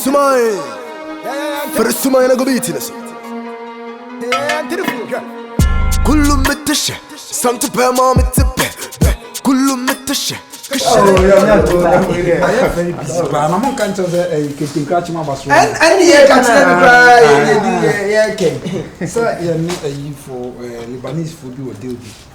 sumae firi sumae na gobi ti ne so kulu mete hyɛ santo pɛ ma mete pɛ pɛ kulu mete hyɛ ɛne yɛ ka kyerɛ no koraa yɛkɛn sɛ yɛne ayifo libanesefo bi wɔ deal bi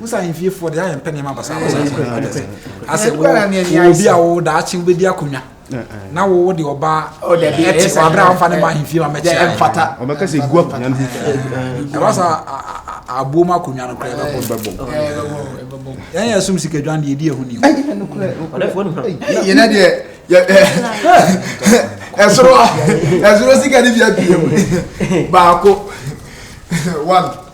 musa ahemfie foɔ deɛ ayɛ mpɛ nneɛma basabasa asɛ obi a wo daakye wobɛdi akonnwa na wowo de ɔba ɛte sɛ aberɛ a womfa ne ma ahemfie ma mɛkyɛ ɛmfata ɔbɛka sɛ ɛgu akonnwa no ho ɛba sɛ aboɔ mu akonnwa no kora ɛbɛbɔ yɛn yɛ som sikadwan deɛ ɛdi ɛho ni yɛnɛ deɛ ɛsoro ɛsoro sika ne bia pie mu baako one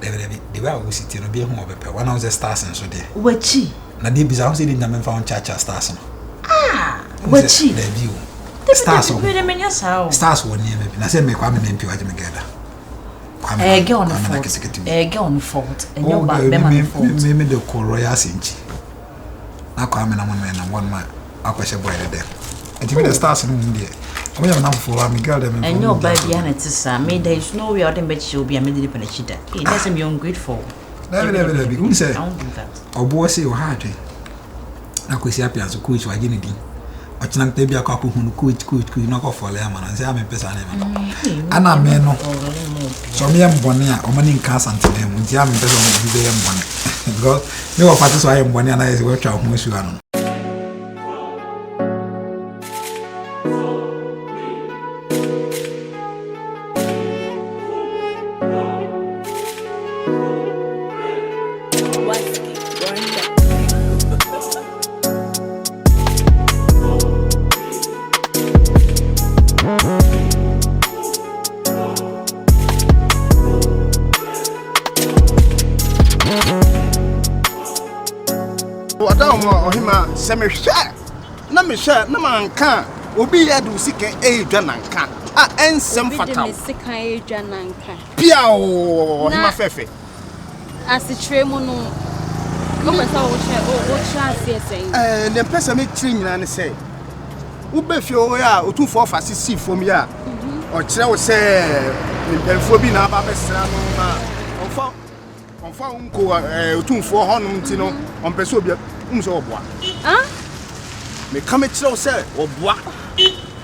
Dabi dabi, the way a wosi ti no, obi ehu ɔbɛpɛ. Wɔn a wɔn sɛ stars nso deɛ. Wakyi. Na deɛ bisa ho sɛ de nyame nfa ho kyaakyaa stars no. Ah, wakyi. Dabi o. Stars wɔ. Dabi dabi, saa o. Stars wɔ nneɛma bi. Na sɛ mɛ kwame mɛ mpi wagye me gɛda. Kwame ɛɛ gɛ ɔno fɔt. Ɛɛ gɛ ɔno fɔt. Ɛnyɛ ɔba bɛma no fɔt. Mɛ mɛ de kɔ royal sɛnkyi. na akɔ amena mo mena wɔn ma akɔhyɛ boy no dɛm nti mi de stars no mu deɛ wɔn yɛ menam fofoɔ mi girl dɛm ɛnyɛ ɔbaa bi ana ti saa mi da is no way a ɔde mbɛkyɛ obi a mi de nipa na akyi da ee na ɛsɛ mi ungrateful. dabi dabi dabi n sɛ ɔboɔ se ɔha adwen na kwasi apia nso coach wagye ne din ɔkyena nkpɛ bi akɔ akɔhu no coach coach coach na ɔkɔfɔle ama no nsɛ a mempɛ saa nneɛma no mm, ana me no sɛ ɔmeyɛ mbɔne a ɔma ne nka asantedan mu nti a mempɛ sɛ ɔma obi bɛyɛ mbɔne because me wɔ fate so ayɛ mbɔne anayɛ sɛ woatwa wo ho asu ano no wɔda wɔn a ɔhema sɛ mehwɛ na mehwɛ na manka a obi yɛ de sika ɛyɛ dwa nanka a ɛnsɛm fata wo obi de me sika ɛyɛ dwa nanka piao ɔhema fɛfɛ Asekyerɛ mu no, wopɛ sɛ wokyerɛ wokyerɛ aseɛ sɛn? Ɛɛ ne mpɛ sɛ mekyerɛ nyinaa ne sɛ wobɛ fie hɔ a otumfoɔ fa se si fam yi a mhm. ɔkyerɛ wo sɛ ne mpanyinfoɔ bi na aba abɛsra no ma ɔmfa ɔmfa wo nko ɛɛ otumfoɔ hɔnom nti no mhm. ɔmpɛ sɛ obi um sɛ ɔboa. Meka mekyerɛ wo sɛ ɔboa.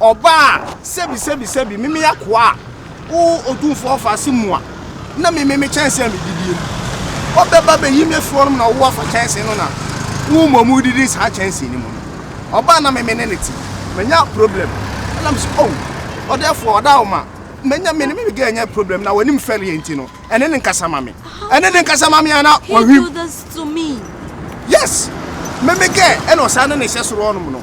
Ɔbaa, sɛbi, sɛbi, sɛbi, me meyɛ akoa a, O Otumfoɔ ɔfa ase mu a, na me me me kyɛnsee a medidie no, wobɛba bɛyi me afiri hɔnom na wo afa kyɛnsee no na wo mmom wodidi saa kyɛnsee no mu no. Ɔbaa na me me ne no te, manya problem, ɛna me se, Oh, ɔdɛɛfoɔ, ɔdaawoma, manya me ne me me girl anya problem na w'anim fɛreɛ nti no, ɛne no nkasa ma me, ɛne no nkasa ma me a na wahwim. Yes, me me girl ɛna ɔsan ne ne hyɛ soro hɔnom no.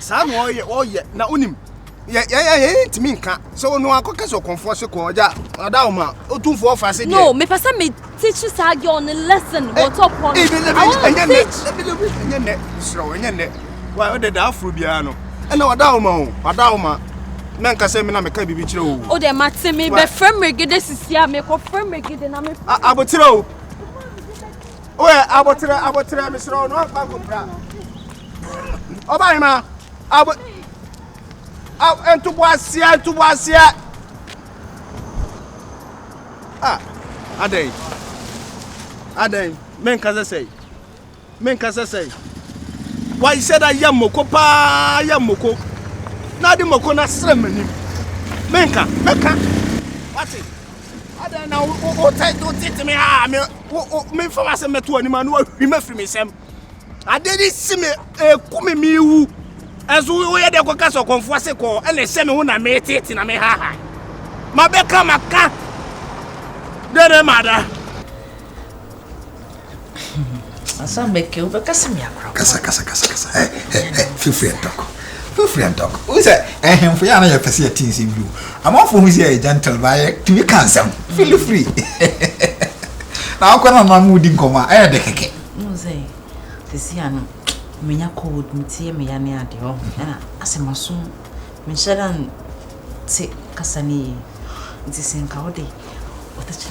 saa na ɔyɛ ɔyɛ na wonim yɛ yɛ yɛ yɛ ntumi nka sɛ wɔn akɔ kɛse ɔkɔnfoɔ se kɔɔ gya ɔda wɔn a otumfoɔ fa se deɛ. no mepɛ sɛ me teach saa girl ne lesson wɔ tɔ pɔ no i want to teach. ɛnyɛ nnɛ serɛ wɔ ɛnyɛ nnɛ wa ɔdɛ da aforo biara no ɛna ɔda wɔn o ɔda wɔn a na nka sɛ me na meka biribi kyerɛ o. o dɛ mate me bɛfrɛ mmerɛgede sisi a mekɔfrɛ mmerɛgede na me. aboterɛ o. Oye abotere abotere mesrɛ wo na ɔmfa nkɔpira ɔbahema abo ntoboaseɛ ntoboaseɛ a adɛn adɛn menka sɛ sɛi menka sɛ sɛi wahyɛ da yɛ mmoko paa yɛ mmoko na ade mmoko no asrɛ m'anim menka mɛka wate adɛn na wotete me a memfa m'asɛm bɛto anim a na wahwim afiri me nsɛm adeɛ de si me ɛku me mewu ɛnso woyɛ dɛ kɔka sɛ ɔkɔmfoɔ se kɔɔ ɛna ɛhyɛ me ho na metete na mehaha mabɛka maka dɛn na mada Asa meke wobɛka sɛ me akora kasa kasa kasa kasa ɛ ɛ ɛ feel free and talk feel free and talk wo sɛ ɛhemfo yɛ a na yɛpɛ sɛ yɛte nsɛm bi o amanfo hu sɛ yɛ gentle ba yɛ tumi ka nsɛm feel free na akɔ na na mu di nkɔmɔ a ɛyɛ de kɛkɛ mo sɛ sisi ano menya cold metie me ya ne ade ɔ ɛna asɛ maso menhyɛ dan te kasa ne yi nti sɛ nka wode ɔtɛkyɛ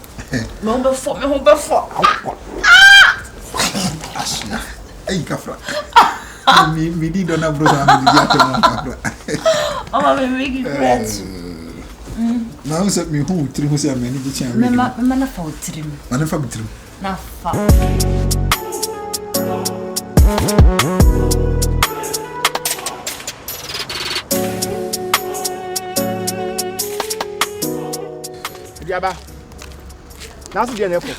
Me ho bɛfɔ me ho bɛfɔ. Awokɔ. Ahyia. Eyi kafra. Mi mi di dɔ na bro sa mi di atɔ na kafra. Ɔmɔ mi mi gi bread. Na n sɛ mi hu tiri ho sɛ mɛ ni gyi kyɛn. Mɛ ma mɛ ma na fa o tiri mu. Ma na fa mi tiri mu. Na fa. Dua ba, n'ase deɛ na ɛkɔ.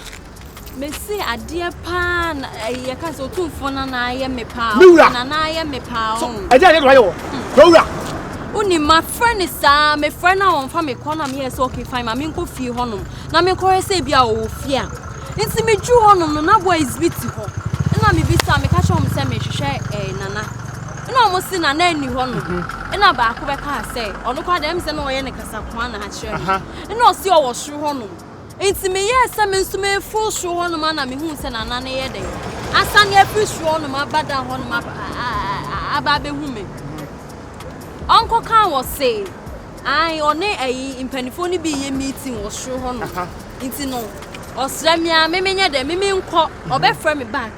Mese adeɛ paa na eh, yɛka sɛ ɔtumfoɔ na na ayɛ me paa Me wura. o, na na ayɛ me paa o. Ɛdeɛ adeɛ na wayɛ wɔ. Kuro wura. Wonim mafrɛ no saa mefrɛ no a ɔmfa me kɔ na meyɛɛ sɛ okay fine ma menkɔ fie hɔnom na menkɔhwɛ sɛ bi a ɔwɔ fie a nti meduru hɔnom no na boys bi te hɔ ɛna mebisa meka kyerɛ wɔn sɛ mehwehwɛ eh, nana ɛna wɔn se nana nni hɔnom ɛna baako bɛkaa sɛ ɔno koraa deɛ ɛm sɛ na ɔyɛ ne Sakoa na akyerɛ me. Ɛna ɔsi ɔwɔ soro hɔnom. Nti meyɛɛ sɛ me nso meforo soro hɔnom a na mehuu sɛ nana no yɛ dɛn. Asane afiri soro hɔnom aba dan hɔnom aba abɛhu me. Ɔnkɔ kan wɔ se, ae, ɔne ayi mpanimfoɔ no bi yɛ meeting wɔ soro hɔnom. Nti no, ɔsrɛ me a, me menyɛ dɛn, me menkɔ, ɔbɛfrɛ me back.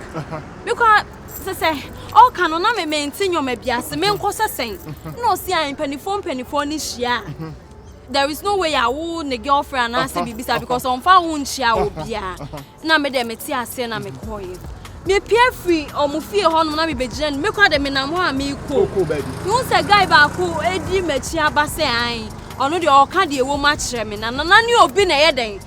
Mekɔ a. Sɛ sɛ ɔka no na me mente nneɛma bi ase menkɔ sɛ sɛn na ɔsi a mpanimfoɔ mpanimfoɔ no hyia a there is no way a wo ne girlfriend anaasɛ biribi saa because ɔmfa wo nkyia obiara na me deɛ mete aseɛ na mekɔɔyɛ mepia firi ɔmo fie hɔnom na mebɛgyina no mekɔ de menam hɔ a mekɔ mehu sɛ guy baako ɛdi m'akyi aba sɛ an ɔno deɛ ɔka deɛ ɛwɔ mu akyerɛ me na nana ne obi na ɛyɛ dɛn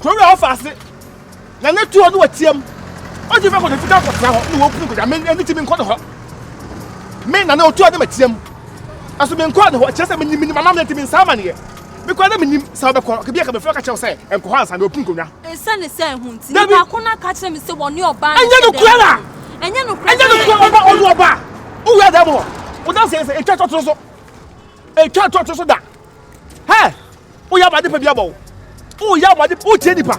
Kuro wura hɔ fa ase na ne tuo no wɔtiam. Ɔgye fɛ kɔde fitaa kɔtena hɔ na wɔkunu kɔgya me ne ti menkɔ ne hɔ. Me na ne ɔtuo ne matiam. Ɛso menkɔ ne hɔ kyerɛ sɛ menim menim amammerɛ nti mensa amaneɛ. Mekɔ na menim sɛ wobɛkɔ kebi a kabefrɛ ka kyerɛ wo sɛ nkɔ hɔ ansa na wɔkunu kɔnwa. Ɛsiane sɛ ɛho nti nipa ko no aka kyerɛ me sɛ wɔne ɔbaa no hyɛ dɛm. Ɛnyɛ nokorɛ na? Ɛnyɛ nokorɛ. Ɛnyɛ nokorɛ ɔba ɔne ɔbaa. Wowura dɛm hɔ. Wodanseɛ sɛ ɛtwa tɔtoro so. Ɛtwa tɔtoro so da. Hɛ! Woyɛ ama adepa bi abɔ wo. Woyɛ ama adepa, wotie nipa.